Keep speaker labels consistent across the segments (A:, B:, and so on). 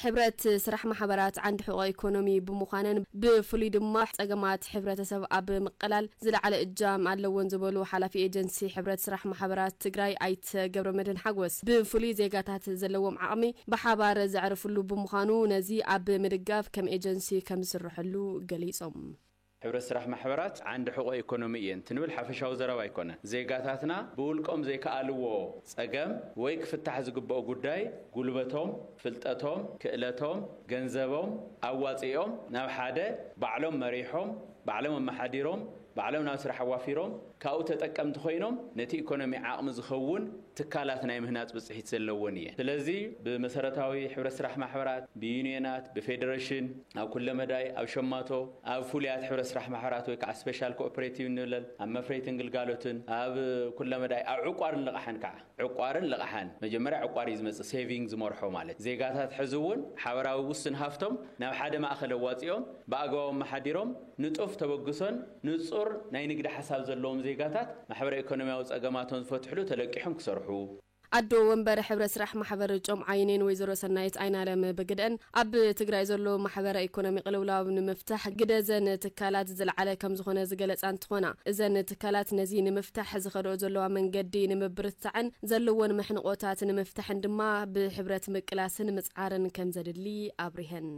A: ሕብረት ስራሕ ማሕበራት ዓንዲ ሕቖ ኢኮኖሚ ብምዃነን ብፍሉይ ድማ ፀገማት ሕብረተሰብ ኣብ ምቅላል ዝለዓለ እጃም ኣለወን ዝበሉ ሓላፊ ኤጀንሲ ሕብረት ስራሕ ማሕበራት ትግራይ ኣይተ ገብረመድህን ሓጎስ ብፍሉይ ዜጋታት ዘለዎም ዓቕሚ ብሓባር ዘዕርፍሉ ብምዃኑ ነዚ ኣብ ምድጋፍ ከም ኤጀንሲ ከምዝስረሐሉ ገሊፆም። ሕብረት ስራሕ
B: ማሕበራት ዓንዲ ሕቖ ኤኮኖሚ እየን ትንብል ሓፈሻዊ ዘረባ ኣይኮነን። ዜጋታትና ብውልቆም ዘይከኣልዎ ፀገም ወይ ክፍታሕ ዝግበኦ ጉዳይ ጉልበቶም፣ ፍልጠቶም፣ ክእለቶም፣ ገንዘቦም ኣዋፂኦም ናብ ሓደ ባዕሎም መሪሖም፣ ባዕሎም ኣመሓዲሮም፣ ባዕሎም ናብ ስራሕ ኣዋፊሮም ካብኡ ተጠቀምቲ ኮይኖም ነቲ ኢኮኖሚ ዓቕሚ ዝኸውን ትካላት ናይ ምህናፅ ብፅሒት ዘለወን እየን። ስለዚ ብመሰረታዊ ሕብረት ስራሕ ማሕበራት፣ ብዩኒየናት፣ ብፌደሬሽን፣ ኣብ ኩለ መዳይ፣ ኣብ ሸማቶ፣ ኣብ ፍሉያት ሕብረት ስራሕ ማሕበራት ወይ ከዓ ስፔሻል ኮኦፕሬቲቭ ንብለን፣ ኣብ መፍረይትን ግልጋሎትን፣ ኣብ ኩለ መዳይ፣ ኣብ ዕቋርን ልቓሕን ከዓ። ዕቋርን ልቓሕን መጀመርያ ዕቋር እዩ ዝመፅእ፣ ሴቪንግ ዝመርሖ ማለት እዩ። ዜጋታት ሕዚ እውን ሓበራዊ ውሱን ሃፍቶም ናብ ሓደ ማእኸል ኣዋፂኦም ብኣግባቡ ኣመሓዲሮም፣ ንጡፍ ተበግሶን ንጹር ናይ ንግዲ ሓሳብ ዘለዎም ዜጋታት ማሕበረ ኢኮኖሚያዊ ጸገማቶም ዝፈትሕሉ ተለቂሖም ክሰርሑ። ኣዶ ወንበር
A: ሕብረት ስራሕ ማሕበር ጮም ዓይኒን ወይዘሮ ሰናይት ኣይናለም ብግደኣን፣ ኣብ ትግራይ ዘሎ ማሕበረ ኢኮኖሚ ቅልውላው ንምፍታሕ ግደ እዘን ትካላት ዝለዓለ ከምዝኾነ ዝገለፃ እንትኾና፣ እዘን ትካላት ነዚ ንምፍታሕ ዝኸደኦ ዘለዋ መንገዲ ንምብርትታዕን ዘለወን መሕንቖታት ንምፍታሕን ድማ ብሕብረት ምቅላስን ምፅዓርን ከምዘድሊ ኣብሪሀን።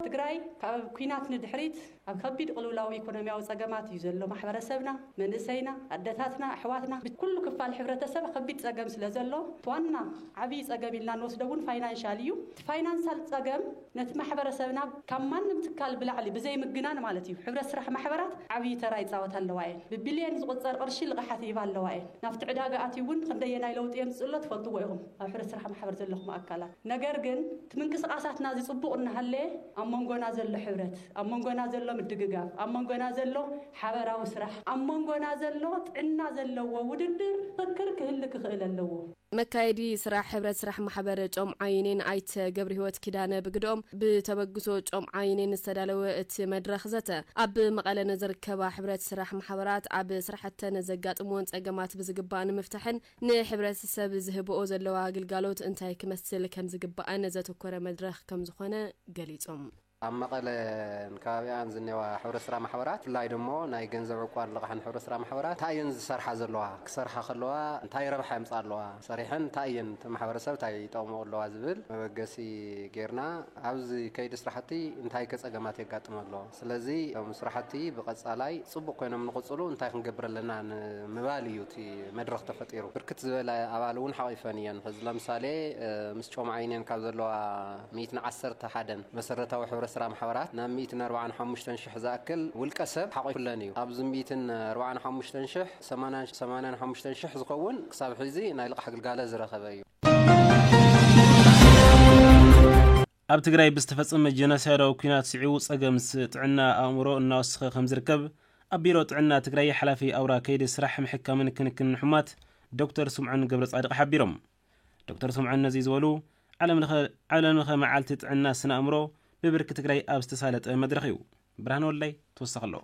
A: ትግራይ
C: ካብ ኩናት ንድሕሪት ኣብ ከቢድ ቕልውላው ኢኮኖሚያዊ ፀገማት እዩ ዘሎ ማሕበረሰብና መንእሰይና ኣደታትና ኣሕዋትና ብኩሉ ክፋል ሕብረተሰብ ከቢድ ፀገም ስለ ዘሎ እቲ ዋና ዓብይ ፀገም ኢልና ንወስዶ እውን ፋይናንሻል እዩ እቲ ፋይናንሳል ፀገም ነቲ ማሕበረሰብና ካብ ማንም ትካል ብላዕሊ ብዘይ ምግናን ማለት እዩ ሕብረት ስራሕ ማሕበራት ዓብይ ተራ ይፃወታ ኣለዋ እየን ብቢልየን ዝቑፀር ቕርሺ ልቓሓት ይህባ ኣለዋ እየን ናብቲ ዕዳጋ ኣትዩ እውን ኽንደየናይ ለውጢ የምፅእ ኣሎ ትፈልጥዎ ኢኹም ኣብ ሕብረት ስራሕ ማሕበር ዘለኹም ኣካላት ነገር ግን እቲ ምንቅስቓሳትና እዚ ጽቡቕ እናሃለየ ኣብ መንጎና ዘሎ ሕብረት፣ ኣብ መንጎና ዘሎ ምድግጋፍ፣ ኣብ መንጎና ዘሎ ሓበራዊ ስራሕ፣ ኣብ መንጎና ዘሎ ጥዕና ዘለዎ ውድድር፣ ፍክክር ክህሊ ክኽእል ኣለዎ። መካየዲ ስራሕ
A: ሕብረት ስራሕ ማሕበር ጮምዓ ዩኒየን ኣይተ ገብርሂወት ኪዳነ ብግደኦም፣ ብተበግሶ ጮምዓ ዩኒየን ዝተዳለወ እቲ መድረኽ ዘተ፣ ኣብ መቐለ ንዝርከባ ሕብረት ስራሕ ማሕበራት ኣብ ስራሕተን ዘጋጥምወን ፀገማት ብዝግባእ ንምፍታሕን፣ ንሕብረተሰብ ዝህበኦ ዘለዋ ግልጋሎት እንታይ ክመስል ከምዝግባእን ዘተኮረ መድረኽ ከምዝኾነ ገሊፆም። ኣብ
D: መቐለን ከባቢኣን ዝኔዋ ሕብረት ስራ ማሕበራት ብፍላይ ደሞ ናይ ገንዘብ ዕቋን ልቓሕን ሕብረት ስራ ማሕበራት እንታይ እየን ዝሰርሓ ዘለዋ፣ ክሰርሓ ከለዋ እንታይ ረብሓ የምፅኣ ኣለዋ፣ ሰሪሐን እንታይ እየን እቲ ማሕበረሰብ እንታይ ይጠቕመኦ ኣለዋ ዝብል መበገሲ ገይርና ኣብዚ ከይዲ ስራሕቲ እንታይ ከ ፀገማት የጋጥም ኣሎ፣ ስለዚ እቶም ስራሕቲ ብቐፃላይ ፅቡቕ ኮይኖም ንቕፅሉ እንታይ ክንገብር ኣለና ንምባል እዩ እቲ መድረኽ ተፈጢሩ። ብርክት ዝበላ ኣባል እውን ሓቒፈን እየን። ሕዚ ለምሳሌ ምስ ጮማ ዩኒየን ካብ ዘለዋ ሚእትን ዓሰርተ ሓደን መሰረታዊ ሕብረት ስራሕ ማሕበራት ናብ ሚእትን ኣርብዓን ሓሙሽተን ሽሕ ዝኣክል ውልቀ ሰብ ሓቒፉለን እዩ። ካብዚ ሚእትን ኣርብዓን ሓሙሽተን ሽሕ ሰማንያን ሰማንያን ሓሙሽተን ሽሕ ዝኸውን ክሳብ ሕዚ ናይ ልቓሕ ግልጋሎት ዝረኸበ እዩ።
E: ኣብ ትግራይ ብዝተፈፀመ ጀኖሳይዳዊ ኲናት ስዒቡ ፀገም ጥዕና ኣእምሮ እናወሰኸ ከምዝርከብ ኣብ ቢሮ ጥዕና ትግራይ ሓላፊ ኣውራ ከይዲ ስራሕ ምሕካምን ክንክንን ሕሙማት ዶክተር ስምዖን ገብረፃድቕ ሓቢሮም። ዶክተር ስምዖን ነዚ ዝበሉ ዓለምለኸ መዓልቲ ጥዕና ስነ ኣእምሮ ብብርኪ ትግራይ ኣብ ዝተሳለጠ መድረኽ እዩ። ብርሃነ ወልዳይ ተወሳኺ ኣለዎ።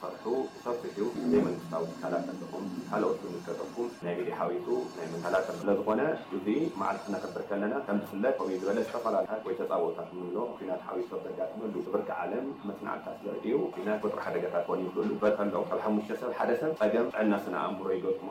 F: ሰርሑ ሰፊሕ እዩ ዘይመንግስታዊ ትካላት ኣለኹም ካልኦት ዝምልከተኩም ናይ ሚድያ ሓዊሱ ናይ መንግስቲ ትካላት ኣሎ ስለዝኾነ እዚ መዓልቲ ክነኽብር ከለና ከምዝፍለጥ ከምኡ ዝበለ ዝተፈላላያት ወይ ተፃብኦታት እንብሎ ኹናት ሓዊሱ ኣብ ዘጋጥመሉ ብብርኪ ዓለም መፅናዕትታት ዘርእዩ ኹናት ቁፅሪ ሓደጋታት ክኾኑ ይኽእሉ በተሎ ካብ ሓሙሽተ ሰብ ሓደ ሰብ ፀገም ጥዕና ስነ ኣእምሮ ይገጥሞ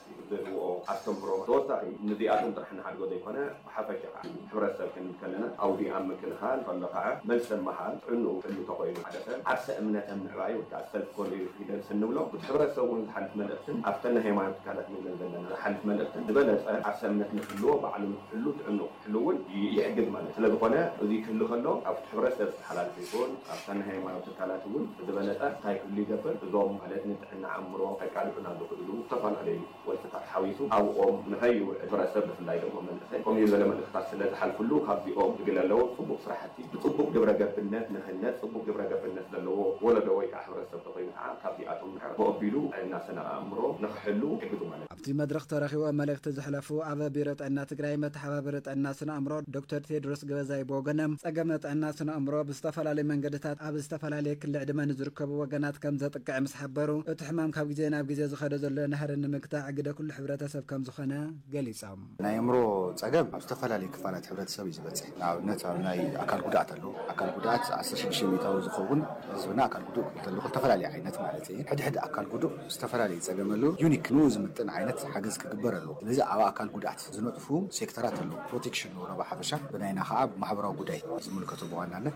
F: ዝደልይዎ ኣስተምህሮ ተወሳኺ ንዚኣቶም ጥራሕ ንሓድጎ ዘይኮነ ብሓፈሻ ከኣ ንሕብረተሰብ ክንብል ከለና ኣውዲ ኣብ ምክልኻል ከሎ ከኣ መልሰ ምሃል ጥዕንኡ ሕሉ ተኾይኑ ሓደ ሰብ ዓርሰ እምነተ ምዕባይ ወይ ከኣ ሰልፍ ኮንፊደንስ እንብሎ ምስ ሕብረተሰቡ ንዝሓልፍ መልእኽትን ኣብተን ናይ ሃይማኖት ትካላት ንብለን ዘለና ዝሓልፍ መልእኽትን ዝበለጸ ዓርሰ እምነት ንክህልዎ ባዕሉ ንክሕሉ ጥዕንኡ ክህሉ እውን ይሕግዝ ማለት ስለዝኾነ እዙይ ክህሉ ከሎ ኣብቲ ሕብረተሰብ ዝተሓላልፈ ይኹን ኣብታ ናይ ሃይማኖት ትካላት እውን ብዝበለፀ እንታይ ክህሉ ይገብር እዞም ማለት ንጥዕና ኣእምሮ ከቃልዑና ዝኽእሉ ዝተፈላለዩ ወልፍታት ሓዊሱ ኣብኦም ንኸይውዕል ሕብረተሰብ ብፍላይ ደሞ መንእሰይ ከምኡ ዝበለ መልእኽታት ስለዝሓልፍሉ ካብዚኦም ዝግለ ኣለዎም ፅቡቕ ስራሕቲ ብፅቡቕ ግብረ ገብነት ንህነፅ ፅቡቕ ግብረ ገብነት ዘለዎ ወለዶ ወይ ከዓ ሕብረተሰብ ተኾይኑ ከዓ ካብዚኣቶም ንሕር ብኦቢሉ ጥዕና ስነ ኣእምሮ ንኽሕሉ ይሕግዙ ማለት ኣብቲ መድረኽ ተረኺቦም
G: መልእኽቲ ዘሕለፉ ኣብ ቢሮ ጥዕና ትግራይ መተሓባበሪ ጥዕና ስነ ኣእምሮ ዶክተር ቴድሮስ ገበዛይ ብወገኖም፣ ፀገም ጥዕና ስነ ኣእምሮ ብዝተፈላለዩ መንገድታት ኣብ ዝተፈላለየ ክሊ ዕድመ ንዝርከቡ ወገናት ከምዘጥቅዕ ምስ ሓበሩ፣ እቲ ሕማም ካብ ግዜ ናብ ግዜ ዝኸዶ ዘሎ ናህሪ ንምግታዕ ግደ ኩሉ ሕብረተሰብ ከምዝኾነ ገሊፆም። ናይ ኣእምሮ
H: ፀገም ኣብ ዝተፈላለዩ ክፋላት ሕብረተሰብ እዩ ዝበፅሕ። ንኣብነት ኣብ ናይ ኣካል ጉድኣት ኣሎ። ኣካል ጉድኣት ዓሰርተ ሽዱሽተ ሚኢታዊ ዝኸውን ህዝብና ኣካል ጉዱእ ክብል ከለኹ ዝተፈላለየ ዓይነት ማለት እየ። ሕድ ሕድ ኣካል ጉዱእ ዝተፈላለየ ፀገም ኣለዎ። ዩኒክ ንኡ ዝምጥን ዓይነት ሓገዝ ክግበር ኣለዎ። ስለዚ ኣብ ኣካል ጉድኣት ዝነጥፉ ሴክተራት ኣለዉ። ፕሮቴክሽን ንብሎ ብሓፈሻ ብናይና ከዓ ማሕበራዊ ጉዳይ ዝምልከቶ ብዋናነት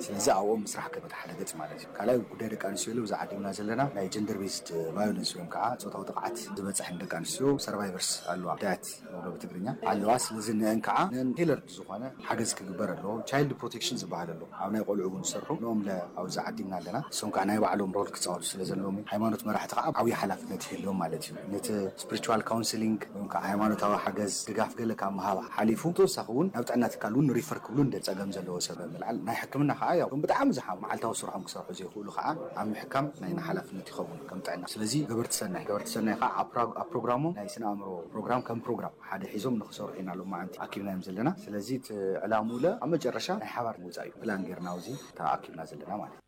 H: ስለዚ ኣብኦም ምስራሕ ክብል ሓደ ገፅ ማለት እዩ። ካልኣይ ጉዳይ ደቂ ኣንስትዮ ሎሚ ዝዓዲምና ዘለና ናይ ጀንደር ቤዝድ ቫዮለንስ ወይም ከዓ ፆታዊ ጥቕዓት ዝበፀሐን ደቂ ኣንስትዮ ሰርቫይቨርስ ኣለዋ ግዳያት ንብሎ ብትግርኛ ኣለዋ ስለዚ ንእን ከዓ ንእን ቴለርድ ዝኾነ ሓገዝ ክግበር ኣለዎ ቻይልድ ፕሮቴክሽን ዝበሃል ኣሎ ኣብ ናይ ቆልዑ እውን ዝሰርሑ ንኦም ለ ኣብዚ ዓዲምና ኣለና ንሶም ከዓ ናይ ባዕሎም ሮል ክፃወቱ ስለዘለዎም እዩ ሃይማኖት መራሕቲ ከዓ ዓብይ ሓላፍነት ይህልዎም ማለት እዩ ነቲ ስፕሪቹዋል ካውንስሊንግ ወይ ከዓ ሃይማኖታዊ ሓገዝ፣ ድጋፍ፣ ገለ ካብ ምሃብ ሓሊፉ ብተወሳኺ እውን ናብ ጥዕና ትካል እውን ሪፈር ክብሉ ንደሊ። ፀገም ዘለዎ ሰብ ብምልዓል ናይ ሕክምና ከዓ ያው እቶም ብጣዕሚ ዝሓሙ መዓልታዊ ስርሖም ክሰርሑ ዘይኽእሉ ከዓ ኣብ ምሕካም ናይና ሓላፍነት ይኸውን ከም ጥዕና። ስለዚ ገበርቲ ሰናይ ገበርቲ ሰናይ ከዓ ኣብ ፕራ ኣብ ፕሮግራሞም ናይ ስነ ኣእምሮ ፕሮግራም ከም ፕሮግራም ሓደ ሒዞም ንኽሰርሑ ኢና ሎማዓንቲ ኣኪብናዮም ዘለና። ስለዚ እቲ ዕላምኡለ ኣብ መጨረሻ ናይ ሓባር ምውፃእ እዩ ፕላን ገይርና ኣብዚ ተኣኪብና ዘለና ማለት እዩ።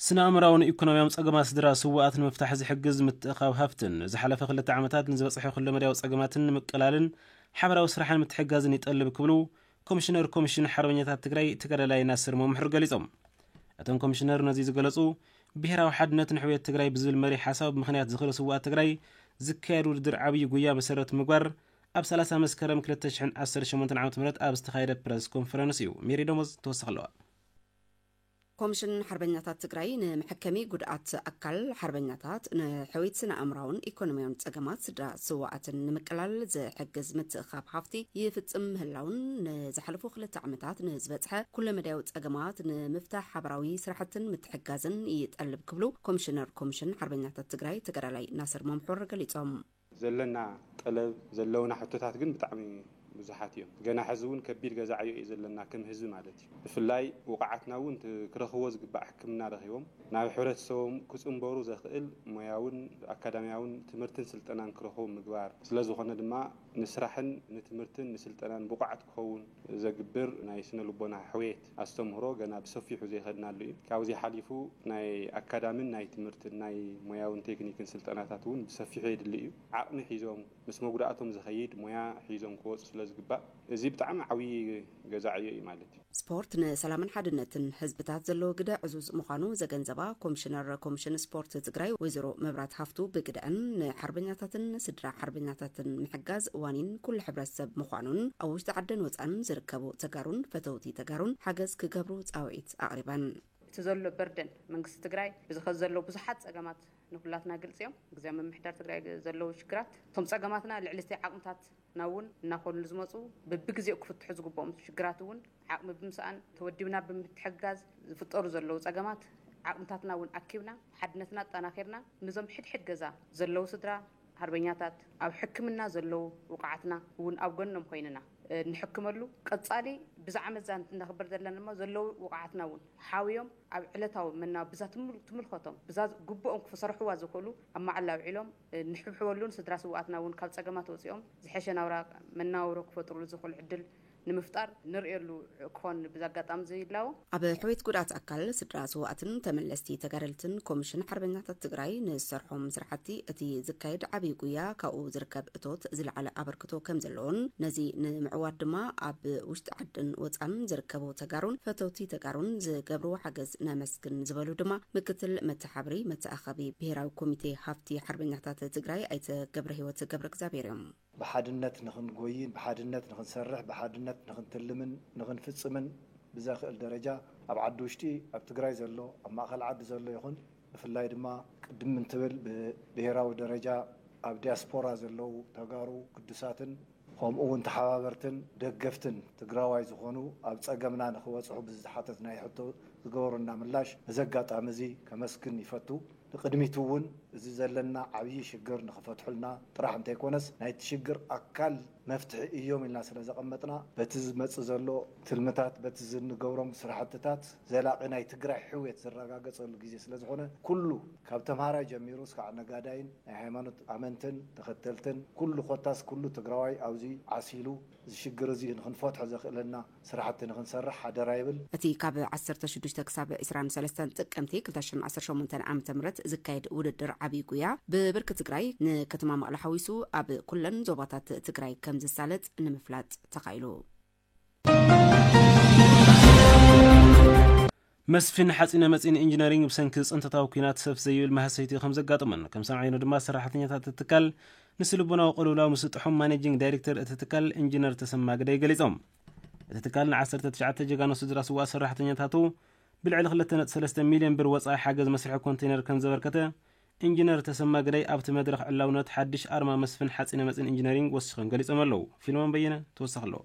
E: ስነ-ኣእምራውን ኢኮኖሚያውን ጸገማት ስድራ ስዉኣት ንምፍታሕ ዝሕግዝ ምትእኽኻብ ሃፍትን ንዝሓለፈ ክልተ ዓመታት ንዝበጽሐ ኩለመዳያዊ ጸገማትን ንምቅላልን ሓበራዊ ስራሕን ምትሕግጋዝን ይጠልብ ክብሉ ኮሚሽነር ኮሚሽን ሓርበኛታት ትግራይ ተጋዳላይ ናስር መምሕር ገሊጾም። እቶም ኮሚሽነር ነዚ ዝገለጹ ብሄራዊ ሓድነት ንሕውየት ትግራይ ብዝብል መሪሕ ሓሳብ ብምኽንያት ዝኽሪ ስዉኣት ትግራይ ዝካየድ ውድድር ዓብዪ ጉያ መሰረት ብምግባር ኣብ ሰላሳ መስከረም ክልተ ሽሕን ዓሰርተ ሸሞንተን ዓመተ ምህረት ኣብ ዝተኻየደ ፕረስ ኮንፈረንስ እዩ ሜሪ ደሞዝ ተወሳኺ ኣለዋ።
I: ኮምሽን ሓርበኛታት ትግራይ ንመሐከሚ ጉድኣት ኣካል ሓርበኛታት፣ ንሕውየት ስነ-ኣእምሮኣውን ኢኮኖሚያውን ፀገማት ስድራ ስውኣትን ንምቅላል ዝሕግዝ ምትእኽኻብ ሃፍቲ ይፍፅም ምህላውን ንዝሓለፉ ክልተ ዓመታት ንዝበፅሐ ኩለመዳያዊ ፀገማት ንምፍታሕ ሓበራዊ ስራሕትን ምትሕግጋዝን ይጠልብ ክብሉ ኮምሽነር ኮምሽን ሓርበኛታት ትግራይ ተጋዳላይ ናስር መምሑር ገሊፆም። ዘለና
J: ጠለብ ዘለውና ሕቶታት ግን ብጣዕሚ ብዙሓት እዮም ገና ሕዚ ውን ከቢድ ገዛ ዕዮ እዩ ዘለና ከም ህዝቢ ማለት እዩ ብፍላይ ውቃዓትና ውን እቲ ክረኽብዎ ዝግባእ ሕክምና ረኺቦም ናብ ሕብረተሰቦም ክፅምበሩ ዘኽእል ሞያውን ኣካዳሚያውን ትምህርትን ስልጠናን ክረኽቡ ምግባር ስለዝኾነ ድማ ንስራሕን ንትምህርትን ንስልጠናን ብቁዓት ክኸውን ዘግብር ናይ ስነ ልቦና ሕውየት ኣስተምህሮ ገና ብሰፊሑ ዘይኸድናሉ እዩ። ካብዚ ሓሊፉ ናይ ኣካዳሚን ናይ ትምህርትን ናይ ሞያውን ቴክኒክን ስልጠናታት እውን ብሰፊሑ የድሊ እዩ። ዓቕሚ ሒዞም ምስ መጉዳእቶም ዝኸይድ ሞያ ሒዞም ክወፁ ስለ ዝግባእ እዚ ብጣዕሚ ዓብዪ ገዛ ዕዮ እዩ ማለት እዩ። ስፖርት ንሰላምን
I: ሓድነትን ህዝብታት ዘለዎ ግደ ዕዙዝ ምዃኑ ዘገንዘባ ኮምሽነር ኮምሽን ስፖርት ትግራይ ወይዘሮ መብራት ሃፍቱ ብግደኣን ንሓርበኛታትን ስድራ ሓርበኛታትን ምሕጋዝ ዋኒን ኩሉ ሕብረተሰብ ምዃኑን ኣብ ውሽጢ ዓድን ወፃእን ዝርከቡ ተጋሩን ፈተውቲ ተጋሩን ሓገዝ ክገብሩ ፃውዒት ኣቕሪበን። እቲ ዘሎ
K: በርደን መንግስቲ ትግራይ እዚ ኸዚ ዘሎ ብዙሓት ፀገማት ንኹላትና ግልፂ እዮም። ግዝያዊ ምምሕዳር ትግራይ ዘለዉ ሽግራት እቶም ፀገማትና ልዕሊ እቲ ዓቕምታትና እውን እናኾኑ ዝመፁ በቢግዜኡ ክፍትሑ ዝግብኦም ሽግራት እውን ዓቕሚ ብምስኣን ተወዲብና ብምትሕግጋዝ ዝፍጠሩ ዘለዉ ፀገማት ዓቕምታትና እውን ኣኪብና ሓድነትና ኣጠናኺርና ንዞም ሕድሕድ ገዛ ዘለዉ ስድራ ሃርበኛታት ኣብ ሕክምና ዘለዉ ውቁዓትና እውን ኣብ ጎኖም ኮይንና እንሕክመሉ ቀፃሊ ብዝዓመትዛ እነኽብር ዘለና ድማ ዘለዉ ውቁዓትና እውን ሓውዮም ኣብ ዕለታዊ መናብ ብዛ ትምልከቶም ብዛ ግቡኦም ክሰርሕዋ ዝኽእሉ ኣብ መዓላ ኣውዒሎም እንሕብሕበሉን ስድራ ስውኣትና እውን ካብ ፀገማት ወፂኦም ዝሐሸ ናብራ መናውሮ ክፈጥርሉ ዝኽእሉ ዕድል ንምፍጣር ንርእየሉ ክኾን ብዚ ኣጋጣሚ እዚ ይላቦ። ኣብ ሕውየት ጉድኣት
I: ኣካል ስድራ ስውኣትን ተመለስቲ ተጋደልትን ኮሚሽን ሓርበኛታት ትግራይ ንዝሰርሖም ስርሓቲ እቲ ዝካየድ ዓብይ ጉያ ካብኡ ዝርከብ እቶት ዝለዓለ ኣበርክቶ ከምዘለዎን ነዚ ንምዕዋት ድማ ኣብ ውሽጢ ዓድን ወፃእን ዝርከቡ ተጋሩን ፈተውቲ ተጋሩን ዝገብርዎ ሓገዝ ነመስግን ዝበሉ ድማ ምክትል መተሓብሪ መተኣኸቢ ብሄራዊ ኮሚቴ ሃፍቲ ሓርበኛታት ትግራይ ኣይተ ገብረሂወት ገብረእግዚኣብሔር እዮም። ብሓድነት
L: ንኽንጎይን፣ ብሓድነት ንኽንሰርሕ፣ ብሓድነት ንኽንትልምን ንኽንፍፅምን ብዘኽእል ደረጃ ኣብ ዓዲ ውሽጢ ኣብ ትግራይ ዘሎ፣ ኣብ ማእኸል ዓዲ ዘሎ ይኹን ብፍላይ ድማ ቅድም እንትብል ብብሄራዊ ደረጃ ኣብ ዲያስፖራ ዘለዉ ተጋሩ ግዱሳትን ኸምኡ እውን ተሓባበርትን ደገፍትን ትግራዋይ ዝኾኑ ኣብ ፀገምና ንኽበፅሑ ብዝተሓተትናዮ ሕቶ ዝገበሩልና ምላሽ በዚ ኣጋጣሚ እዚ ከመስግን ይፈቱ። ንቅድሚት እውን እዚ ዘለና ዓብዪ ሽግር ንክፈትሑልና ጥራሕ እንተይኮነስ ናይቲ ሽግር ኣካል መፍትሒ እዮም ኢልና ስለዘቐመጥና በቲ ዝመፅእ ዘሎ ትልምታት በቲ ዝንገብሮም ስራሕትታት ዘላቒ ናይ ትግራይ ሕውየት ዝረጋገፀሉ ግዜ ስለዝኾነ ኩሉ ካብ ተምሃራይ ጀሚሩ እስካዕ ነጋዳይን ናይ ሃይማኖት ኣመንትን ተኸተልትን ኩሉ ኮታስ ኩሉ ትግራዋይ ኣብዚ ዓሲሉ እዚ ሽግር እዚ ንክንፈትሖ ዘኽእለና ስራሕቲ ንክንሰርሕ ሓደራ ይብል። እቲ ካብ ዓሰርተ
I: ሽዱሽተ ክሳብ ዕስራን ሰለስተን ጥቅምቲ ክልተ ሽሕን ዓሰርተ ሸሞንተን ዓመተ ምህረት ዝካየድ ውድድር ዓብይ ጉያ ብብርኪ ትግራይ ንከተማ መቐለ ሓዊሱ ኣብ ኩለን ዞባታት ትግራይ ከምዝሳለጥ ንምፍላጥ ተኻኢሉ።
E: መስፍን ሓጺነ መጺን ኢንጂነሪንግ ብሰንኪ ጽንተታዊ ኲናት ሰፍ ዘይብል ማህሰይቲ ከም ዘጋጠሞን ከም ሰምዓዮኖ ድማ ሰራሕተኛታት እቲ ትካል ንስልቦናዊ ቅልውላው ምስጥሖም ማኔጂንግ ዳይሬክተር እቲ ትካል ኢንጂነር ተሰማ ግደይ ገሊጾም። እቲ ትካል ንዓሰርተ ትሽዓተ ጀጋኑ ስድራ ስውኣት ሰራሕተኛታቱ ብልዕሊ ክልተ ነጥቢ ሰለስተ ሚልዮን ብር ወጻኢ ሓገዝ መስርሒ ኮንተይነር ከም ዘበርከተ ኢንጂነር ተሰማ ግደይ ኣብቲ መድረኽ ዕላውነት ሓድሽ ኣርማ መስፍን ሓጺነ መጺን ኢንጂነሪንግ ወሲኾም ገሊጾም ኣለዉ። ፊልሞን በየነ ተወሳኺ ኣለዎ።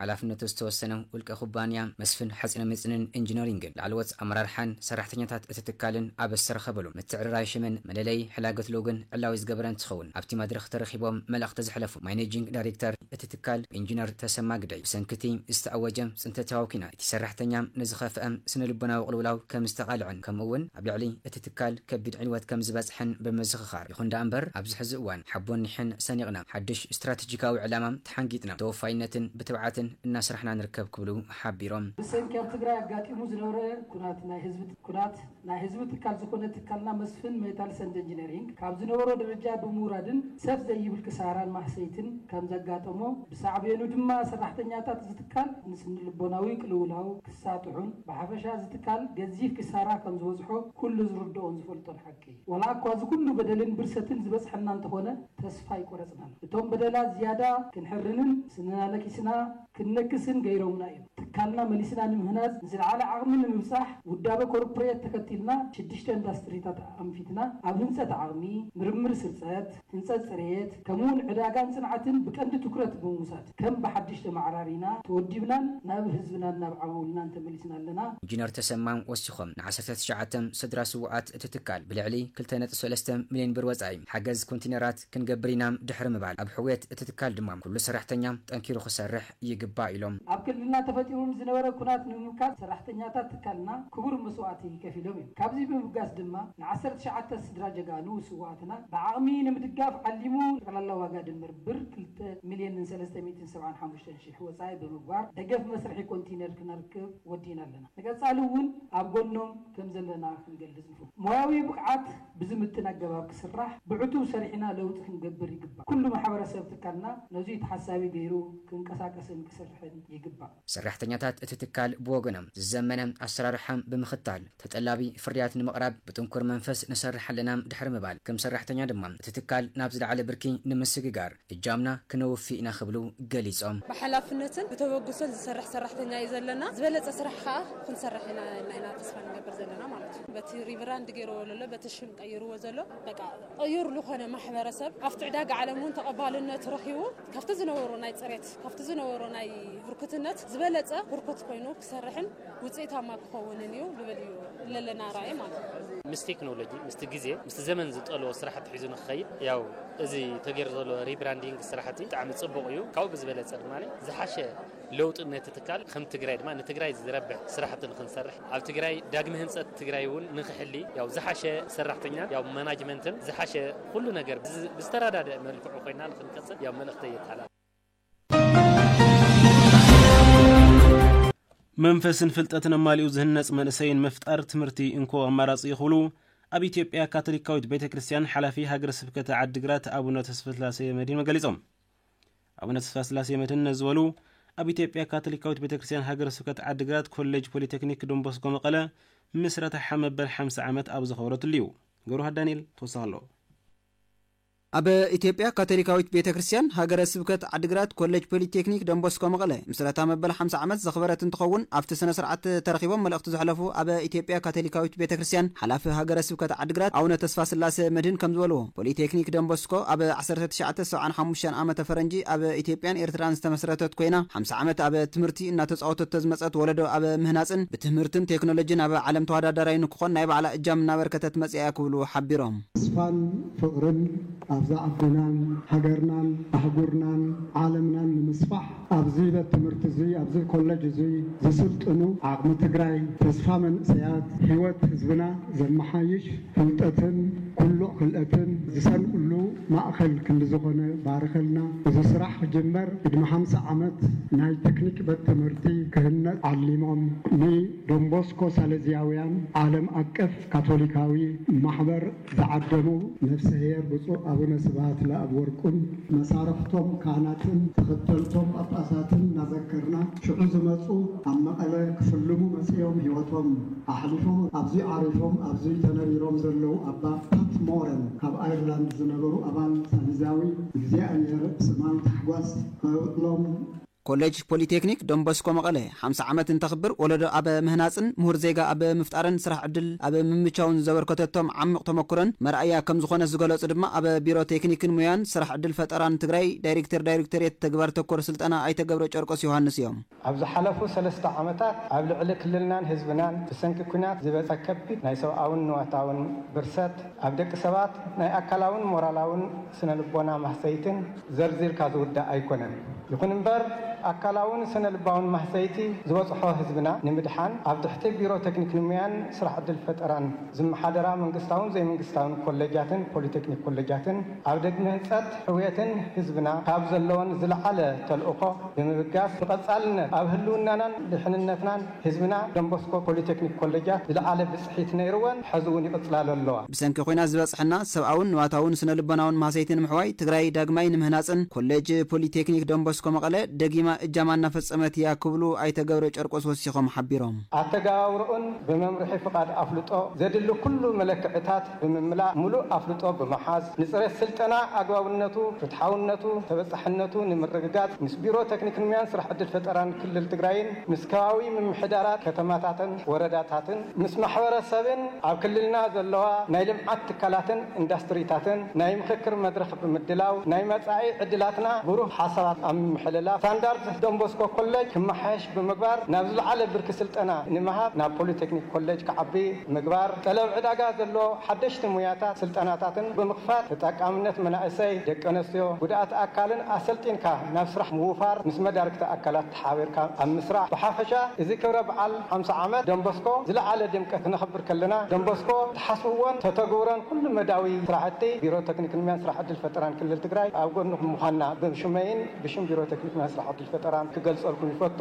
M: ሓላፍነቱ ዝተወሰነ ውልቀ ኩባንያ መስፍን ሓፂነመፂንን ኢንጂነሪንግን ላዕለዎት ኣመራርሓን ሰራሕተኛታት እቲ ትካልን ኣብ ዝተረኸበሉ ምትዕርራይ ሽምን መለለዪ ሕላገት ሎጎን ዕላዊ ዝገበረ እንትኸውን ኣብቲ መድረኽ ተረኺቦም መልእኽቲ ዘሕለፉ ማኔጂንግ ዳይሬክተር እቲ ትካል ኢንጂነር ተሰማ ግደይ ብሰንኪ እቲ ዝተኣወጀ ፅንተታዊ ኲናት እቲ ሰራሕተኛ ንዝኸፍኣ ስነልቦናዊ ቅልውላው ከምዝተቓልዐን ከምኡ እውን ኣብ ልዕሊ እቲ ትካል ከቢድ ዕንወት ከምዝበፅሐን ብምዝኽኻር ይኹን ደኣ እምበር ኣብዚ ሕዚ እዋን ሓቦን ኒሕን ሰኒቕና ሓዱሽ ስትራቴጂካዊ ዕላማ ተሓንጊጥና ብተወፋይነትን ብትብዓትን እናስራሕና ንርከብ ክብሉ ሓቢሮም። ብሰንኪ ኣብ ትግራይ
N: ኣጋጢሙ ዝነበረ ኩናት ናይ ህዝቢ ኩናት ናይ ህዝቢ ትካል ዝኾነ ትካልና መስፍን ሜታልስ ኣንድ ኢንጂነሪንግ ካብ ዝነበሮ ደረጃ ብምውራድን ሰፍ ዘይብል ክሳራን ማህሰይትን ከምዘጋጠሞ ብሳዕቤኑ ድማ ሰራሕተኛታት እዚ ትካል ንስንልቦናዊ ቅልውላው ክሳጥሑን ብሓፈሻ እዚ ትካል ገዚፍ ክሳራ ከምዝበፅሖ ኩሉ ዝርደኦን ዝፈልጦን ሓቂ ዋላ እኳ እዚ ኩሉ በደልን ብርሰትን ዝበጽሐና እንተኾነ ተስፋ ኣይቆረጽናን። እቶም በደላት ዝያዳ ክንሕርንን ስንና ነኪስና ክንነክስን ገይሮምና እዮም። ትካልና መሊስና ንምህናጽ ንዝለዓለ ዓቕሚ ንምብጻሕ ውዳበ ኮርፕሬት ተኸቲልና ሽድሽተ እንዳስትሪታት ኣንፊትና ኣብ ህንጸት ዓቕሚ፣ ምርምር ስርጸት፣ ህንፀት ፅሬት ከምኡ እውን ዕዳጋን ፅንዓትን ብቀንዲ ትኩረት ብምውሳድ ከም ብሓዱሽ ተመዓራሪና፣ ተወዲብናን ናብ ህዝብናን ናብ ዓውውልናን ተመሊስና ኣለና። ኢንጂነር ተሰማ
M: ወሲኾም፣ ንዓሰርተ ትሽዓተ ስድራ ስውኣት እቲ ትካል ብልዕሊ ክልተ ነጥቢ ሰለስተ ሚሊየን ብር ወፃኢ ሓገዝ ኮንቲነራት ክንገብር ኢና ድሕሪ ምባል ኣብ ሕውየት እቲ ትካል ድማ ኩሉ ሰራሕተኛ ጠንኪሩ ክሰርሕ ይግባእ ኢሎም። ኣብ ክልልና ተፈጢሩ
N: ንዝነበረ ኩናት ንምምካት ሰራሕተኛታት ትካልና ክቡር መስዋእቲ ከፊሎም እዮም። ካብዚ ብምብጋስ ድማ ንዓሰርተ ትሽዓተ ስድራ ጀጋኑ ስውኣትና ብዓቕሚ ንምድጋፍ ዓሊሙ ጠቕላላ ዋጋ ድምር ብር ክልተ ሚልየንን ሰለስተ ሚእትን ሰብዓን ሓሙሽተን ሽሕ ወፃኢ ብምግባር ደገፍ መስርሒ ኮንቲነር ክነርክብ ወዲእና ኣለና። ንቀፃሊ እውን ኣብ ጎኖም ከምዘለና ክንገልፅ ሞያዊ ብቕዓት ብዝምጥን ኣገባብ ክስራሕ ብዕቱብ ሰሪሕና ለውጢ ክንገብር ይግባእ። ኩሉ ማሕበረሰብ ትካልና ነዙይ ተሓሳቢ ገይሩ ክንቀሳቀስን ክሰርሕን ይግባእ። ሰራሕተኛታት
M: እቲ ትካል ብወገኖም ዝዘመነ ኣሰራርሓ ብምኽታል ተጠላቢ ፍርያት ንምቕራብ ብጥንኩር መንፈስ ንሰርሕ ኣለና ድሕሪ ምባል፣ ከም ሰራሕተኛ ድማ እቲ ትካል ናብ ዝለዓለ ብርኪ ንምስግጋር፣ እጃምና ክነውፊ ኢና ክብሉ ገሊፆም። ብሓላፍነትን
O: ብተበግሶን ዝሰርሕ ሰራሕተኛ እዩ ዘለና፣ ዝበለፀ ስራሕ ከዓ ክንሰርሕ ኢና ኢልና ኢና ተስፋ ንገብር ዘለና ማለት እዩ። በቲ ሪብራንድ ገይርዎ ዘሎ በቲ ሽም ቀይርዎ ዘሎ በቃ ቅዩር ልኾነ ማሕበረሰብ ኣብቲ ዕዳጋ ዓለም እውን ተቐባልነቱ ረኺቡ ካብቲ ዝነበሮ ናይ ፅሬት ካብቲ ዝነበሮ ናይ ህርኩትነት ዝበለፀ ህርኩት ኮይኑ ክሰርሕን ውፅኢታማ ክኸውንን እዩ ልብል እዩ ለለና ራእይ ማለት እዩ። ምስ ቴክኖሎጂ
P: ምስቲ ግዜ ምስቲ ዘመን ዝጠልቦ ስራሕቲ ሒዙ ንክኸይድ ያው እዚ ተገይሩ ዘሎ ሪብራንዲንግ ስራሕቲ ብጣዕሚ ፅቡቕ እዩ። ካብኡ ብዝበለፀ ድማ ዝሓሸ ለውጢ ነቲ ትካል ከም ትግራይ ድማ ንትግራይ ዝረብሕ ስራሕቲ ንክንሰርሕ ኣብ ትግራይ ዳግመ ህንፀት ትግራይ እውን ንክሕሊ ያው ዝሓሸ ሰራሕተኛን ያው መናጅመንትን ዝሓሸ ኩሉ ነገር ብዝተረዳደእ መልክዑ ኮይና ንክንቅፅል ያው መልእኽተይ የተሓላልፍ።
E: መንፈስን ፍልጠትን ኣማሊኡ ዝህነጽ መንእሰይን ምፍጣር ትምህርቲ እንኮ ኣማራጺ እዩ ክብሉ ኣብ ኢትዮጵያ ካቶሊካዊት ቤተ ክርስቲያን ሓላፊ ሃገረ ስብከተ ዓዲግራት ኣቡነ ተስፋስላሴ መድህን ገሊጾም። ኣቡነ ተስፋስላሴ መድህን ነዚ በሉ ኣብ ኢትዮጵያ ካቶሊካዊት ቤተ ክርስቲያን ሃገረ ስብከት ዓዲግራት ኮሌጅ ፖሊቴክኒክ ዶንቦስኮ መቐለ ምስረታ መበል 50 ዓመት ኣብ ዘኸብረትሉ እዩ። ገብረሃ ዳንኤል ተወሳኺ ኣሎ።
Q: ኣብ ኢትዮጵያ ካቶሊካዊት ቤተ ክርስቲያን ሃገረ ስብከት ዓዲግራት ኮሌጅ ፖሊቴክኒክ ደንቦስኮ መቐለ ምስረታ መበል ሓምሳ ዓመት ዘኽበረት እንትኸውን ኣብቲ ስነ ስርዓት ተረኺቦም መልእኽቲ ዘሕለፉ ኣብ ኢትዮጵያ ካቶሊካዊት ቤተ ክርስቲያን ሓላፊ ሃገረ ስብከት ዓዲግራት ኣቡነ ተስፋስላሴ መድህን ከምዝበልዎ ፖሊቴክኒክ ደንቦስኮ ኣብ ዓሰርተ ትሽዓተ ሰብዓን ሓሙሽተን ዓመተ ፈረንጂ ኣብ ኢትዮጵያን ኤርትራን ዝተመስረተት ኮይና ሓምሳ ዓመት ኣብ ትምህርቲ እናተፃወተቶ ዝመፀት ወለዶ ኣብ ምህናፅን ብትምህርትን ቴክኖሎጂን ኣብ ዓለም ተወዳዳራይ ንክኾን ናይ ባዕላ እጃም እናበርከተት መፂኣ እያ ክብሉ ሓቢሮም። ተስፋን
R: ፍቕርን ኣብዛ ዓድናን ሃገርናን ኣህጉርናን ዓለምናን ንምስፋሕ ኣብዚ በት ትምህርቲ እዙይ ኣብዚ ኮለጅ እዙይ ዝስልጥኑ ዓቕሚ ትግራይ ተስፋ መንእሰያት ህይወት ህዝብና ዘመሓይሽ ፍልጠትን ኩሉ ክእለትን ዝሰንቕሉ ማእኸል ክልዝኾነ ባርኸልና እዚ ስራሕ ክጅመር ቅድሚ ሓምሳ ዓመት ናይ ተክኒክ በት ትምህርቲ ክህነፅ ዓሊሞም ንዶንቦስኮ ሳለዝያውያን ዓለም ኣቀፍ ካቶሊካዊ ማሕበር ዝዓደሙ ነፍሰ ሄር ብፁዕ ኣቡነ ስብሃት ለኣብ ወርቁን መሳርሕቶም ካህናትን ተኸተልቶም ጳጳሳትን እናዘከርና ሽዑ ዝመጹ ኣብ መቐለ ክፍልሙ መጺኦም ሕይወቶም ኣሕሊፎም ኣብዙይ ዓሪፎም ኣብዙይ ተነቢሮም ዘለዉ ኣባ ፓት ሞረን ካብ ኣይርላንድ ዝነበሩ ኣባል ሳሊዛዊ እግዚኣብሔር ሰማዊ ታሕጓስ ከውዕሎም ኮሌጅ
Q: ፖሊቴክኒክ ዶንቦስኮ መቐለ ሓምሳ ዓመት እንተኽብር ወለዶ ኣብ ምህናፅን ምሁር ዜጋ ኣብ ምፍጣርን ስራሕ ዕድል ኣብ ምምቻውን ዘበርከተቶም ዓሚቕ ተሞክሮን መርኣያ ከምዝኾነት ዝገለፁ ድማ ኣብ ቢሮ ቴክኒክን ሙያን ስራሕ ዕድል ፈጠራን ትግራይ ዳይሪክተር ዳይሪክቶሬት ተግባር ተኮር ስልጠና ኣይተ ገብረጨርቆስ ዮሃንስ እዮም። ኣብ ዝሓለፉ
S: ሰለስተ ዓመታት ኣብ ልዕሊ ክልልናን ህዝብናን ብሰንኪ ኲናት ዝበፀ ከቢድ ናይ ሰብኣውን ንዋታውን ብርሰት ኣብ ደቂ ሰባት ናይ ኣካላውን ሞራላውን፣ ስነልቦና ማህሰይትን ዘርዚርካ ዝውዳእ ኣይኮነን። ይኹን እምበር ኣካላውን ስነልባውን ማህሰይቲ ዝበፅሖ ህዝብና ንምድሓን ኣብ ትሕቲ ቢሮ ቴክኒክን ሙያን ስራሕ ዕድል ፈጠራን ዝመሓደራ መንግስታውን ዘይመንግስታውን ኮሌጃትን ፖሊቴክኒክ ኮሌጃትን ኣብ ደግሚ ህንፀት ሕውየትን ህዝብና ካብ ዘለወን ዝለዓለ ተልእኾ ብምብጋስ ብቐፃልነት ኣብ ህልውናናን ድሕንነትናን ህዝብና ደንቦስኮ ፖሊቴክኒክ ኮሌጃት ዝለዓለ ብፅሒት ነይርወን ሐዚ እውን ይቕፅላሉ ኣለዋ። ብሰንኪ ኹናት ዝበፅሐና
Q: ሰብኣውን ንዋታውን ስነ ልቦናውን ማህሰይቲ ንምሕዋይ ትግራይ ዳግማይ ንምህናፅን ኮሌጅ ፖሊቴክኒክ ደንቦስኮ መቐለ ደጊማ እጃማ እናፈፀመት እያ ክብሉ ኣይተ ገብረጨርቆስ ወሲኾም ሓቢሮም። ኣተገባብርኡን
S: ብመምርሒ ፍቓድ ኣፍልጦ ዘድሊ ኩሉ መለክዕታት ብምምላእ ሙሉእ ኣፍልጦ ብምሓዝ ንፅሬት ስልጠና ኣግባብነቱ፣ ፍትሓውነቱ፣ ተበፃሕነቱ ንምርግጋፅ ምስ ቢሮ ቴክኒክንሙያን ስራሕ ዕድል ፈጠራን ክልል ትግራይን ምስ ከባቢ ምምሕዳራት ከተማታትን ወረዳታትን፣ ምስ ማሕበረ ሰብን ኣብ ክልልና ዘለዋ ናይ ልምዓት ትካላትን ኢንዳስትሪታትን ናይ ምኽክር መድረኽ ብምድላው ናይ መፃኢ ዕድላትና ብሩህ ሓሳባት ኣብ ምምሕልላፍ ስታንዳርድ ዶንቦስኮ ኮሌጅ ክመሓየሽ ብምግባር ናብ ዝለዓለ ብርኪ ስልጠና ንምሃብ ናብ ፖሊቴክኒክ ኮሌጅ ክዓቢ ምግባር ጠለብ ዕዳጋ ዘለዎ ሓደሽቲ ሙያታት ስልጠናታትን ብምኽፋት ተጠቃምነት መናእሰይ ደቂ ኣነስትዮ ጉድኣት ኣካልን ኣሰልጢንካ ናብ ስራሕ ምውፋር ምስ መዳርግቲ ኣካላት ሓቢርካ ኣብ ምስራሕ ብሓፈሻ እዚ ክብረ በዓል ሓምሳ ዓመት ደንበስኮ ዝለዓለ ድምቀት ክነኽብር ከለና ደንበስኮ ትሓስብዎን ተተግብሮን ኩሉ መዳያዊ ስራሕቲ ቢሮ ቴክኒክን ሙያን ስራሕ ዕድል ፈጠራን ክልል ትግራይ ኣብ ጎንኹም ምዃንና ብሽመይን ብሽም ቢሮ ቴክኒክ ሙያን ስራሕ ዕድል ፈጠራን ክገልፀልኩም ይፈቱ።